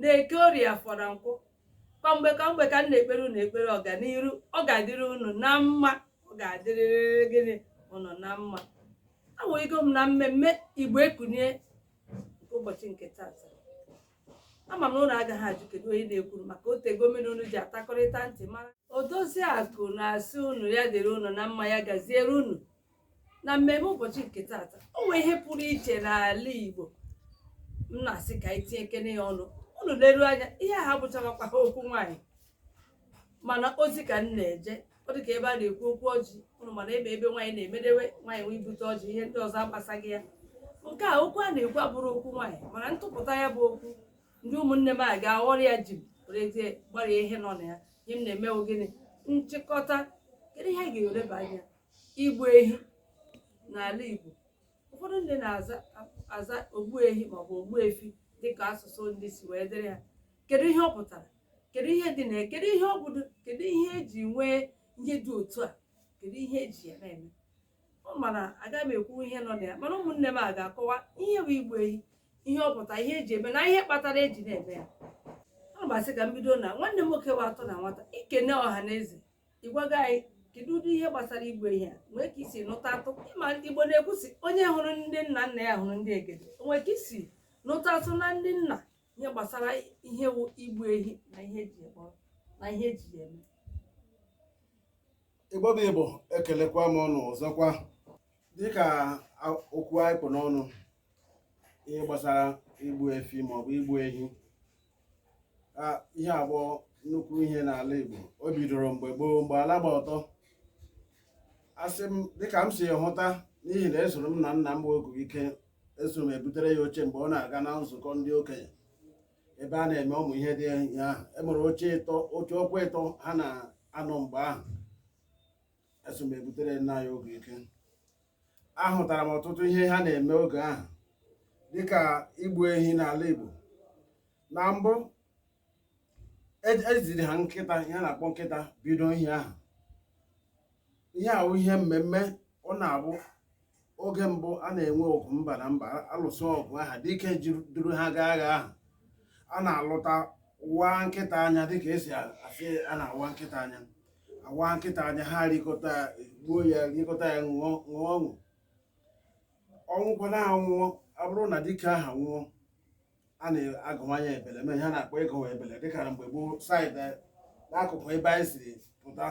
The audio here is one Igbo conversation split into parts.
n'eke orie afọ na nkwọ kwa mgbe kwa mgbe ka m na-ekpere unu ekpere ọganiru ọ ga-adịrị unu na mma ọ ga-adịrịrị gịnị unu na mma awụghịgo m na mmemme igbo ekunie nke ụbọchị nke tata ama m na unu agaghị ajụ kedu onye na-ekwuru maka o tego mụ na unu ji atakọrịta ntị mara odoziakụ na-asị unu ya dịrị unu na mma ya gaziere unu na mmemme ụbọchị nke tata o nwee ihe pụrụ iche n'ala Igbo m na-asị ka anyị tinyekene ya ọnụ unu leru anya ihe a abụchakwaha okwu nwaanyị mana ozi ka m na-eje ọ dị ka ebe a na-ekwu okwu ọjị ụnụ ma na ebe ebe nwaanyị na-emedewe nwaanyị nwee ibute ọjị ihe ndị ọzọ agbasaghị ya nke a okwu a na-ekwu abụrọ okwu nwaanyị mana m tụpụta ya bụ okwu ndị ụmụnne m a ga-aghọrọ ya ji werezie gbarie ihe nọ na ya ihe m na-eme wụ gịnị nchịkọta kedu ihe a ga-eleba anya igbu ehi n'ala Igbo ụfọdụ ndị na-aza aza ogbu ehi maọbụ ogbu efi dịka asụsụ ndị si wee dịrị ha kedu ihe ọ pụtara kedu ihe dị na ya kedu ihe ọ bụdo kedu ihe eji nwee ihe dị otu a kedu ihe eji ya na-eme ọ mana agaghị m ekwu ihe nọ na ya mana ụmụnne m a ga-akọwa ihe bụ igbu ehi ihe ọ pụtara ihe eji eme na ihe kpatara eji na-eme ya ana m asị ka m bido na nwanne m nwoke wa atọ na nwata i kene ọha na eze ị gwago anyị kedu ụdị ihe gbasara igbu ehi a o nwee ka i si nụtatụ ị ma igbo na-ekwu sị onye hụrụ ndị nna nna ya hụrụ ndị egede o nwee ka i si nụtatụ na ndị nna ihe gbasara ihe wụ igbu ehi na ihe eji ekpọ na ihe eji ya eme igbo bụ igbo ekelekwa m unu ọzọkwa dịka a- okwu anyị kpụ n'ọnụ ihe gbasara igbu efi maọbụ igbu ehi ihe a bụ nnukwu ihe n'ala Igbo o bidoro mgbe gboo mgbe ala gba ọtọ asị m dịka m si hụta n'ihi na esoro m nna nna m bụ oguike eso m ebutere ya oche mgbe ọ na-aga na nzukọ ndị okenye ebe a na-eme ụmụ ihe ndị ahụ enwere oche ịtọ oche ọkpa ịtọ ha na-anọ mgbe ahụ eso m ebutere nna ya oguike ahụtara m ọtụtụ ihe ha na-eme oge ahụ dịka igbu ehi n'ala Igbo na mbụ ejiri e ha nkịta ihe a na-akpọ nkịta bido ihe ahụ ihe a wụ ihe mmemme ọ na-abụ oge mbụ a na-enwe ọgụ mba na mba alụsịa ọgụ aha dike duru ha gaa agha ahụ a na-alụta waa nkịta anya dịka esi asị a na-awa nkịta anya awa nkịta anya ha rikọta gbuo ya rikọta ya ṅụọ ṅụọ ọṅụ ọ nwụkwana anwụọ ọ bụrụ na dike aha nwụọ a na-agụwa ya ebele ihe ha na-akpọ ịgụwa ebele dịka na mgbe gboo side n'akụkụ ebe anyị siri pụta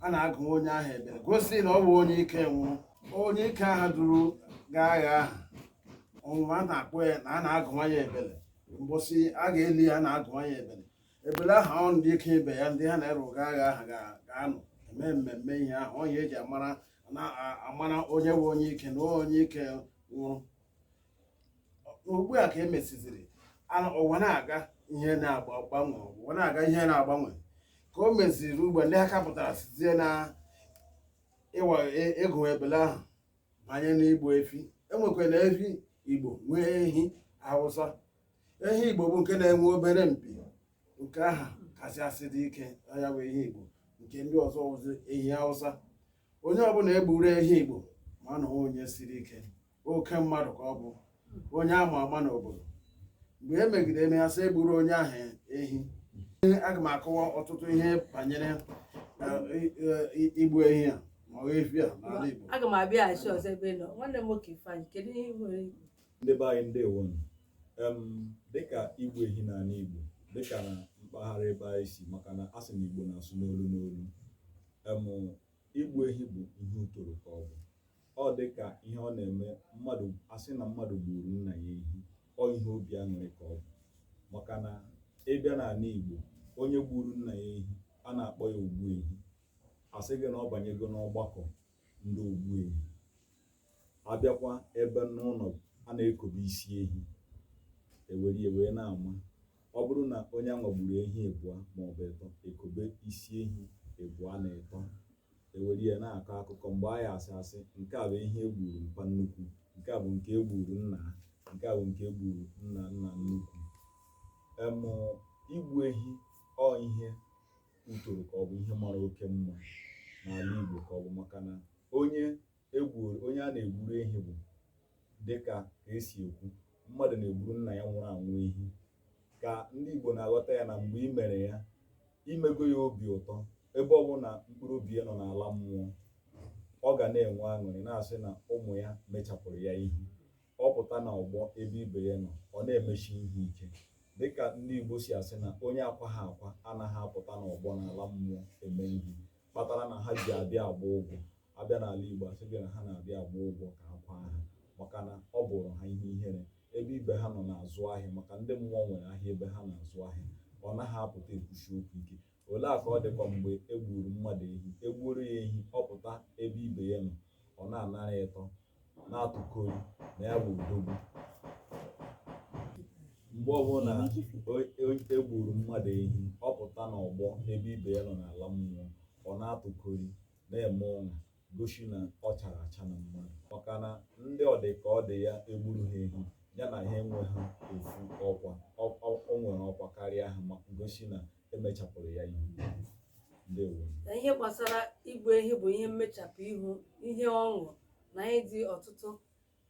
a na-agụ onye ahụ ebele gosi na ọ bụ onye ike nwụrụ onye ike aha duru gaa agha ahụ ọ nwụọ a na-akpọ ya na a na-agụwa ya ebele mbọsị a ga-eli ya a na-agụwa ya ebele ebele aha ọ ndị ike ibe ya ndị ha na-eru gaa agha aha ga-anọ eme mmemme ihe ahụ ọ ihe eji amara onye wụ onye ike na onye ike nwụrụ ugbu a ka e mesiziri ụwa na-aga ihe na-agbanwe ụwa na-aga ihe na-agbanwe ka o meziri ugbo ndị a ka pụtara sizie na ịwa ịgụ ebele ahụ banye n'igbu efi enwekwa na efi igbo nwee ehi awụsa ehi igbo bụ nke na-enwe obere mpi nke aha kasị asị dị ike ya bụ ehi igbo nke ndị ọzọ wụzi ehi hausa onye ọbụla egburu ehi igbo ma na onye siri ike oke mmadụ ka ọ bụ onye ama ama n'obodo mgbe e megide eme ya sị egburu onye ahụ ehi aga m akọwa ọtụtụ ihe banyere eh, eh, igbu ehi a ma ọ efi a n'ala igbo aga m abịaghachi ọzọ ebe ị nọ nwanne m nwoke ifeanyị kedu ihe ị nwere ikwu? ndị be anyị ndewonu em dịka igbu ehi n'ala Igbo dịka na mpaghara ebe anyị si maka na a sị na Igbo na-asụ n'olu n'olu em igbu ehi bụ ihe utoro ka ọ bụ ọ dịka ihe ọ na-eme mmadụ asị na mmadụ gburu nna ya ehi ọ ihe obi aṅụrị ka ọ bụ maka na ịbịa n'ala Igbo onye gburu nna ya ehi a na-akpọ ya ogbu ehi asị gị na ọ banyego n'ọgbakọ ndị ogbu ehi abịakwa ebe n'ụlọ a na-ekobe isi ehi ewere ya wee na-ama ọ bụrụ na onye anwa gburu ehi ebụa maọbụ ịtọ ekobe isi ehi ebụa na ịtọ ewere ya na-akọ akụkọ mgbe anyị asị asị nke a bụ ihe egburu mpa nnukwu nke a bụ nke egburu nna ha nke a bụ nke egburu nna nna nnukwu em igbu ehi ọ ihe utoro ka ọ bụ ihe mara oke mma n'ala Igbo ka ọ bụ maka na onye egbuoro onye a na-egburu ehi bụ dịka ka esi ekwu mmadụ na-egburu nna ya nwụrụ anwụ ehi ka ndị Igbo na-aghọta ya na mgbe i mere ya imego ya obi ụtọ ebe ọbụna mkpụrụ obi ya nọ n'ala mmụọ ọ ga na-enwe aṅụrị na-asị na ụmụ ya mechapụrụ ya ihe ọ pụta na ọgbọ ebe ibe ya nọ ọ na-emesi ihe ike dịka ndị Igbo si asị na onye akwaha akwa anaghị apụta n'ọgbọ n'ala mmụọ eme ihe kpatara na ha ji abịa agba ụgwọ abịa n'ala Igbo asị gị na ha na-abịa agba ụgwọ ka a kwaa ha maka na ọ bụrụ ha ihe ihere ebe ibe ha nọ na-azụ ahịa maka ndị mmụọ nwere ahịa ebe ha na-azụ ahịa ọ naghị apụta ekwusi okwu ike olee aka ọ dịkwa mgbe e gbuuru mmadụ ehi e gbuoro ya ehi ọ pụta ebe ibe ya nọ ọ na-anara ịtọ na-atụkori na ya bụ odogwu mgbe ọbụla e gburu mmadụ ehi ọ pụta n'ọgbọ ebe ibe ya nọ n'ala mmụọ ọ na-atụkori na-eme ụṅa gosi na ọ chara acha na mmadụ maka na ndị ọ dị ka ọ dị ya egburu ha ehi ya na ha enweghị ofu ọkwa o nwere ọkwa karịa ha ma gosi na emechapụrụ ya ihu ndewo na ihe gbasara igbu ehi bụ ihe mmechapụ ihu ihe ọṅụ na ihe dị ọtụtụ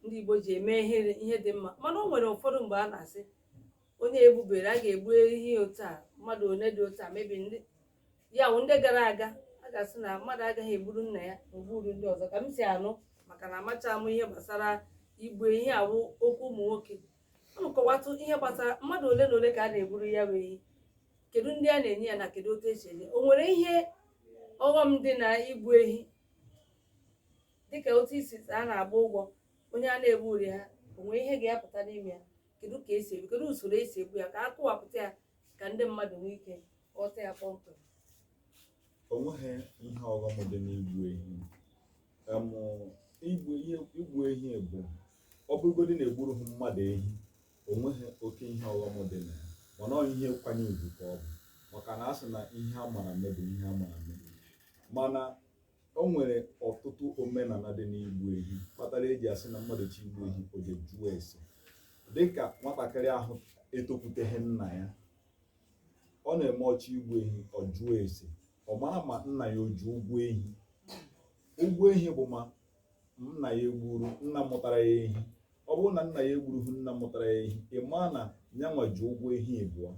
ndị Igbo ji eme ihe ihe dị mma mana o nwere ụfọdụ mgbe a na-asị onye egbubere a ga-egbu ehi otu a mmadụ one dị otu a maybe ndị ya wụ ndị gara aga a ga-asị na mmadụ agaghị egburu nna ya ma o gburu ndị ọzọ ka m si anụ maka na amacha m ihe gbasara igbu ehi a wụ okwu ụmụ nwoke unu kọwatụ ihe gbasara mmadụ ole na ole ka a na-egburu ya bụ ehi kedu ndị a na-enye ya na kedu otu esi enye o nwere ihe ọghọm dị na igbu ehi dịka otu isi a na-agba ụgwọ onye a na-egburu ha o nwere ihe ga-apụta n'ime ya kedu ka esi egbu kedu usoro esi egbu ya ka a kọwapụta ya ka ndị mmadụ nwee ike ghọta ya kpọmkwem onweghị ihe ọghọm dị n'igbu ehi Em, igbu ihe igbu ehi bụ ọ bụrụgodị na egburu ha mmadụ ehi onweghị oke ihe ọghọm dị na ya mana ọ ihe nkwanye ugwu ka ọ bụ maka na a sị na ihe a mara mme bụ ihe a mara mme mana o nwere ọtụtụ omenala dị n'igbu ehi kpatara eji asị na mmadụ chọ igbu ehi o je jụọ ese dịka nwatakịrị ahụ etokwuteghị nna ya ọ na-eme ọ chọ igbu ehi ọ jụọ ese ọ mara ma nna ya o ji ụgwọ ehi ụgwọ ehi bụ ma nna ya egburu nna mụtara ya ehi ọ bụrụ na nna ya egburughị nna mụtara ya ehi ị maa na nya nwa ji ụgwọ ehi ịbụọ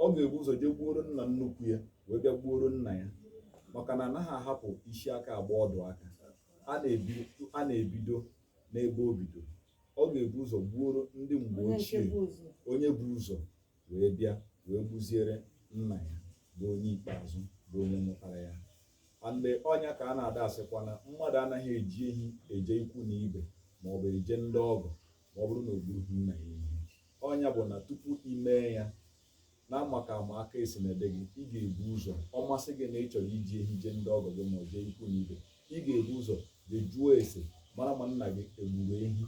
ọ ga-ebu ụzọ jee gbuoro nna nnukwu ya wee bịa gbuoro nna ya maka na anaghị ahapụ isi aka agba ọdụ aka a na-ebido n'ebe o bidoro ọ ga-ebu ụzọ gbuoro ndị mgbe ochie onye bu ụzọ wee bịa wee gbuziere nna ya bụ onye ikpeazụ bụ onye mụtara ya and ọ nya ka a na-ada asịkwa na mmadụ anaghị eji ehi eje ikwu na ibe ma ọ bụ eje ndị ọgọ ma ọ bụrụ na o gburughị nna ya ehi ọ nya bụ na tupu ị mee ya na maka ama aka esi na ede gị ị ga-ebu ụzọ ọ masị gị na ị chọrọ iji ehi jee ndị ọgọ gị ma ọ jee ikwu na ibe ị ga-ebu ụzọ jee jụọ ese mara ma nna gị egburu ehi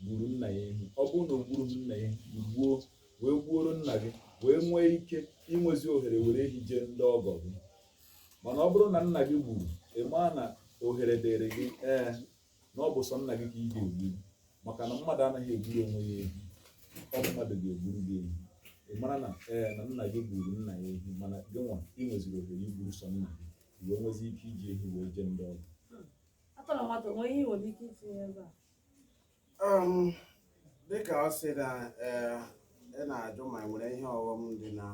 gburu nna ya ehi ọ bụrụ na o gburu nna ya gbuo wee gbuoro nna gị wee nwee ike inwezi ohere were ehi jee ndị ọgọ gị mana ọ bụrụ na nna gị gburu ị maa na ohere dịrị gị ee na ọ bụ sọ nna gị ka ị ga-egburu maka na mmadụ anaghị egburu onwe ya ehi ọ mmadụ ga-egburu gị ehi ị mara na ee na nna gị gburu nna ya ehi mana gị nwa ị nweziri ohere igburu sọ nna gị wee nwezi ike iji ehi wee jee ndị ọgọ um dịkà ọ sị na ee ị na-ajụ ma e nwere ihe ọghọm dị na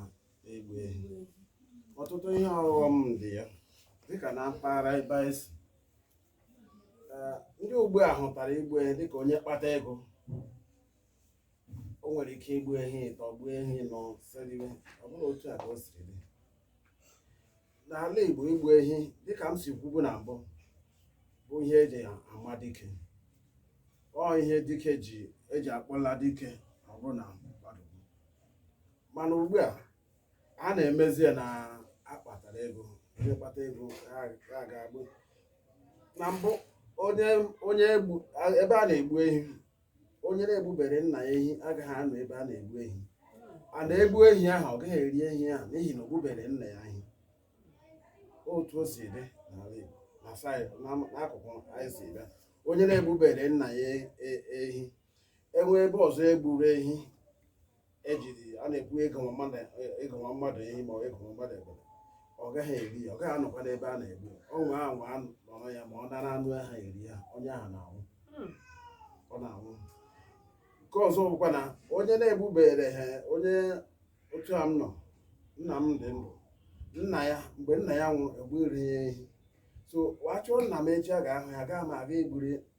igbu ehi ọtụtụ ihe ọghọm dị ya dịkà na mpaghara ebe anyị si Ee, ndị ugbu a hụtara igbu ehi dịka onye kpata ego o nwere ike igbu ehi ịtọ gbuo ehi ịnọ sie riwe ọ bụrọ otu a ka o siri dị n'ala Igbo igbu ehi dịka m si kwubu na mbụ bụ ihe eji ama dike ọ ihe dike ji eji akpọla dike ọ bụrụ na mmadụ mana ugbu a a na-emezi ya na akpatara ego onye kpata ego a ga-egbu na mbụ onye ebe a na-egbu ehi onye na-egbubere nna ya ehi agaghị anọ ebe a na-egbu ehi a na-egbu ehi ahụ ọ gaghị eri ehi ahụ n'ihi na o gbubere nna ya ehi otu o si dị n'ala Igbo na saịdị n'am- n'akụkụ anyị si bịa onye na-egbubere nna ya e- ehi e nwee ebe ọzọ egburu ehi ejiri a na-ekwu igbu nwa mmadụ igbu nwa mmadụ ehi ma ọ igbu nwa mmadụ ebele ọ gaghị eri ya ọ gaghị anọkwa n'ebe a na-egbu ya ọ nwaa anwa anụ nọrọ ya ma ọ dara anụ ahụ eri ya onye ahụ na-anwụ Hmm. ọ na-anwụ nke ọzọ bụkwa na onye na-egbubere ha onye otu a m nọ nna m dị ndụ nna ya mgbe nna ya nwụrụ egburu ya ehi so wa chọọ nna m echi a ga-ahụ ya gaa m ga-egburu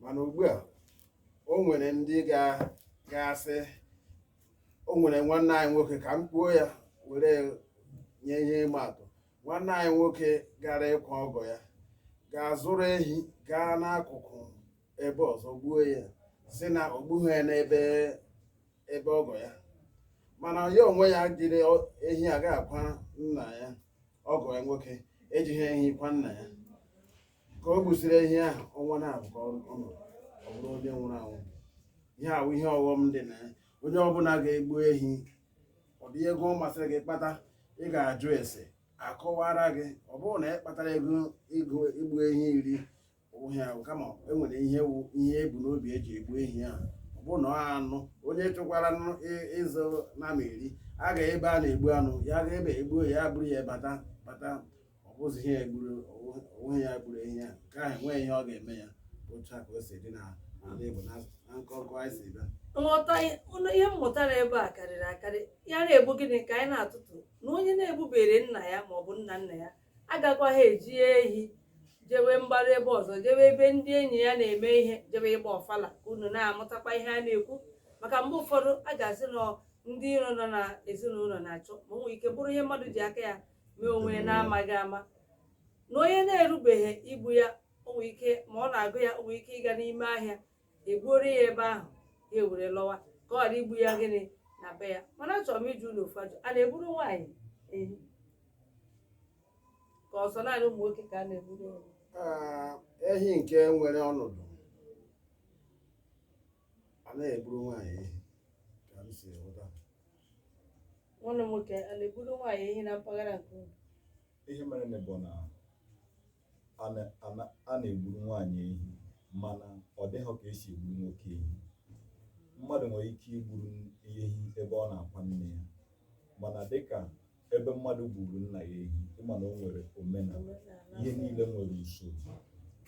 mana ugbu a o nwere ndị ga-asị o nwere nwanne anyị nwoke ka m kwuo ya were nye ihe ịma atụ nwanne anyị nwoke gara ịkwa ọgọ ya gaa zụrụ ehi gaa n'akụkụ ebe ọzọ gbuo ya sị na o gbughị ya n'ebe ebe ọgọ ya mana ya onwe ya jiri ehi aga akwa nna ya ọgọ ya nwoke ejighị ehi kwa nna ya ka o gbusiri ehi ahụ ọnwa naabọ ka ọ nọ ọ bụrụ onye nwụrụ anwụ ihe a wụ ihe ọghọm dị na ya onye ọbụla ga-egbu ehi ụdị ego ọ masịrị gị kpata ị ga-ajụ ese a kọwaara gị ọ bụrụ na ị kpatara ego ego igbu ehi iri ọ hịa ahụ kama e nwere ihe wụ ihe ebu n'obi eji egbu ehi ahụ ọ bụrụ na ọ anụ onye chọkwara nụ ị- ịzụ nama eri a ga ebe a na-egbu anụ ya ga ebe egbuo ya buru ya bata bata ọ bụzi ihe egburu onwe ya gburu ehi ya nke ahụ enweghị ihe ọ ga-eme ya otu a ka o si dị na ala Igbo na na nkọnkọ anyị si bịa nghọta ụlọ ihe m mụtara ebe a karịrị akarị ya na-egbu gịnị ka anyị na-atụtụ na onye na-egbubere nna ya ma ọ bụ nna nna ya agakwaghị eji ehi jewe mgbaru ebe ọzọ jewe ebe ndị enyi ya na-eme ihe jewe ịgba ọfala ka unu na-amụtakwa ihe a na-ekwu maka mgbe ụfọdụ a ga-asị na ndị iro nọ na ezinụlọ na-achọ ma o nwere ike bụrụ ihe mmadụ ji aka ya mee onwe ya na-amaghị ama na onye na-erubeghị igbu ya o nwere ike ma ọ na-agụ ya o nwere ike ịga n'ime ahịa egbuoro ya ebe ahụ ya ewere lọwa ka ọ ghara igbu ya gịnị na be ya mana achọrọ m ịjụ unu ofu ajụjụ a na-egburu nwaanyị ehi ka ọ sọ naanị ụmụ nwoke ka a na-egburu ehi Ah, ehi nke nwere ọnọdụ a na-egburu nwaanyị ehi ka m si ghọta nwanne m nwoke a na-egburu nwaanyị ehi na mpaghara nke unu ihe merenụ bụ na a na- a na- a na-egburu nwaanyị ehi mana ọ dịghọ ka esi egburu nwoke ehi mmadụ nwere ike igburu ehi ebe ọ na-akwa nne ya mana dịka ebe mmadụ gburu nna ya ehi ị ma na o nwere omenala ihe niile nwere usoro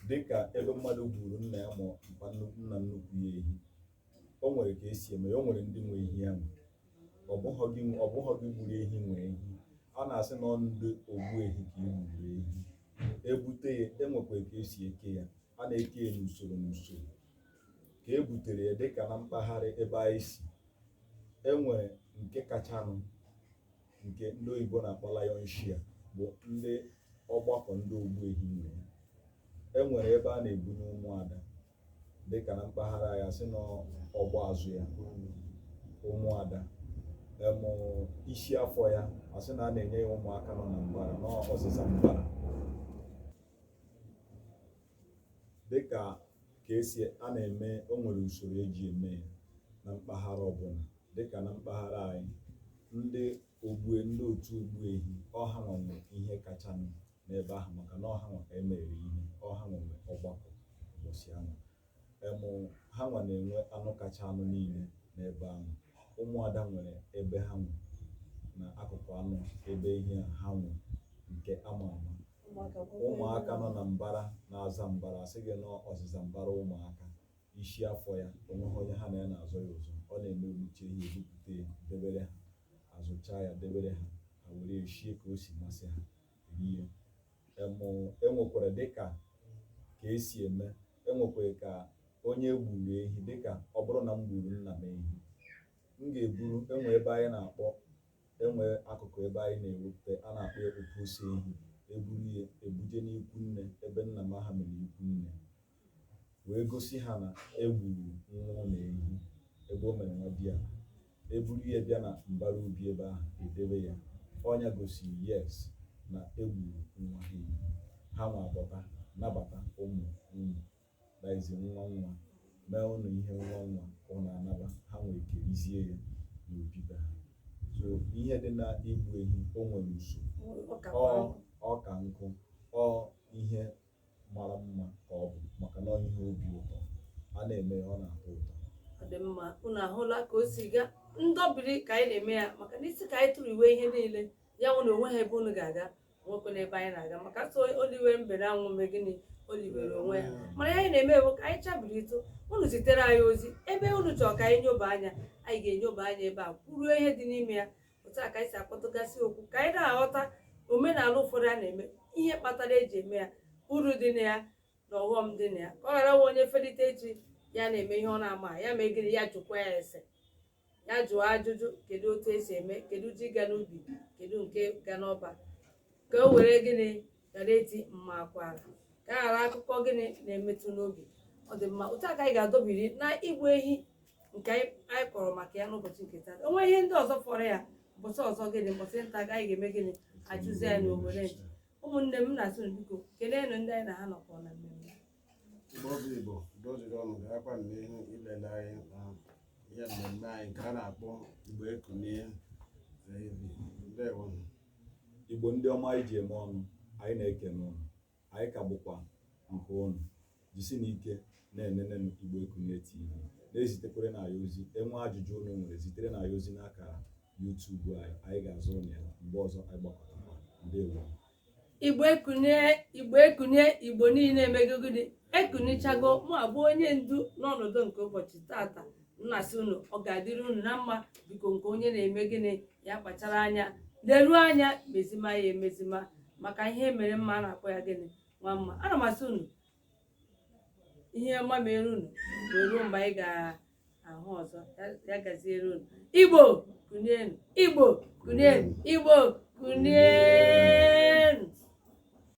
dịka ebe mmadụ gburu nna ya ma mpa nnu- nna nnukwu ya ehi o nwere ka esi eme ya o nwere ndị nwe ehi ahụ ọ bụghọ gị ọ bụghọ gị gburu ehi nwe ehi a na-asị na ọ ndị ogbu ehi ka i gburu ehi ebute ya enwekwara ka esi eke ya a na-eke ya n'usoro n'usoro ka e butere ya dịka na mpaghara ebe anyị si enwere nke kachanụ nke ndị oyibo na-akpọ lion share bụ ndị ọgbakọ ndị ogbu ehi nwe enwere ebe a na-ebunye ụmụada dịka na mpaghara anyị asị na ọgba azụ ya ụmụada em isi afọ ya asị na a na-enye ya ụmụaka nọ na mbara na ọzịza mbara dịka ka esi a na-eme o nwere usoro eji eme ya na mpaghara ọbụla dịka na mpaghara anyị ndị ogbue ndị otu ogbu ehi ọ ha nwa nwe ihe kachanụ n'ebe ahụ maka na ọ ha nwa ka e mere ihe ọ ha nwa nwe ọgbakọ ụbọchị ahụ em ha nwa na-enwe anụ kacha anụ niile n'ebe ahụ ụmụada nwere ebe ha nwe na akụkụ anụ ebe ihe a ha nwe nke ama ama ụmụaka nọ na mbara na-aza mbara asị gị na ọzịza mbara ụmụaka isi afọ ya onweghị onye ha na ya na-azọ ya ụzọ ọ na emechaa ihe ebupụta ya debere ha azụcha ya debere ha ha were ya shie ka o si masị ha rie em enwekwara dịka ka esi eme enwekwara ka onye gburu ehi dịka ọ bụrụ na m gburu nna m ehi m ga-eburu enwe ebe anyị na-akpọ enwe akụkụ ebe anyị na-ewepụta a na-akpọ ya opusi ehi eburu ya ebuje n'ikwu nne ebe nna m aha mere ikwu nne wee gosi ha na egburu nwa ụnụ ehi ebe o mere nwadiala eburu ya bịa na mbara ubi ebe ahụ edebe ya ọ nya gosiri yes na egburu nwa ha ehi ha nwa abata nabata ụmụ ụmụ daizi nwa nwa mee ụnụ ihe nwa nwa ụnụ anaba ha nwa ekerizie ya n'obi be ha so ihe dị na igbu ehi o nwere usoro ọ ka nkụ ọ ihe mara mma ka ọ bụ maka na ihe obi ụtọ a na-eme ọ na-atọ ụtọ ọ dị mma unu ahụla ka o si gaa ndọbiri ka anyị na-eme ya maka na ị sị ka anyị tụrụ iwe ihe niile ya nwụ na onwe ha ebe unu ga-aga nwekwe n'ebe anyị na-aga maka so oliwe mbere anwụ mgbe gịnị oliwere onwe ya mana ya anyị na-eme ewu ka anyị chabiri ịtụ unu zitere anyị ozi ebe unu chọrọ ka anyị nyoba anya anyị ga-enyoba anya ebe a kwuruo ihe dị n'ime ya otu a ka anyị si akpọtụgasị okwu ka anyị na-aghọta omenala ụfọdụ a na-eme ihe kpatara eji eme ya uru dị na ya na ọghọm dị na ya ka ọ ghara nwe onye felite echi ya na-eme ihe ọ na-ama ya mee gịnị ya jụkwaa ese ya jụọ ajụjụ kedu otu esi eme kedu ji ga n'ubi kedu nke ga n'ọba ka o were gịnị ghara eti mma akwara ka a ghara akụkọ gịnị na-emetụ n'obi ọ dị mma otu a ka anyị ga-adọbiri na igbu ehi nke anyị anyị kọrọ maka ya n'ụbọchị nke taa o nwee ihe ndị ọzọ fọrọ ya ụbọchị ọzọ gịnị ụbọchị nta ka anyị ga-eme gịnị achụzie ya na owere ụmụnne m na-asị unu biko keleenụ ndị anyị na ha nọkọ na mmemme Igbo bụ Igbo doziri ọnụ gaakwa n'ihu ilele anyị na ihe mmemme anyị nke a na-akpọ Igbo Ekunie TV. Ndewo. Igbo ndị ọma anyị ji eme ọnụ anyị na-ekene ụnụ anyị ka bụkwa nke ụnụ jisienụ ike na-enene Igbo Ekunie TV na-ezitekwaranụ anyị ozi enwe ajụjụ ụnụ nwere ziterenụ anyị ozi n'akara YouTube anyị anyị ga-aza ụnụ ya mgbe ọzọ anyị gbakọtakwa ndewo igbo ekunie igbo ekunie igbo niile emego gịnị ekunichago mụ abụ onye ndu n'ọnọdụ nke ụbọchị tata m na-asị unu ọ ga-adịrị unu na mma biko nke onye na-eme gịnị ya kpachara anya leruo anya mezima ya emezima maka ihe emere mma a na-akpọ ya gịnị nwa mma ana m asị unu ihe ọma mere unu wee ruo mgbe anyị ga ahụ ọzọ ya gaziere unu igbo kunienu igbo kunienu igbo kunienu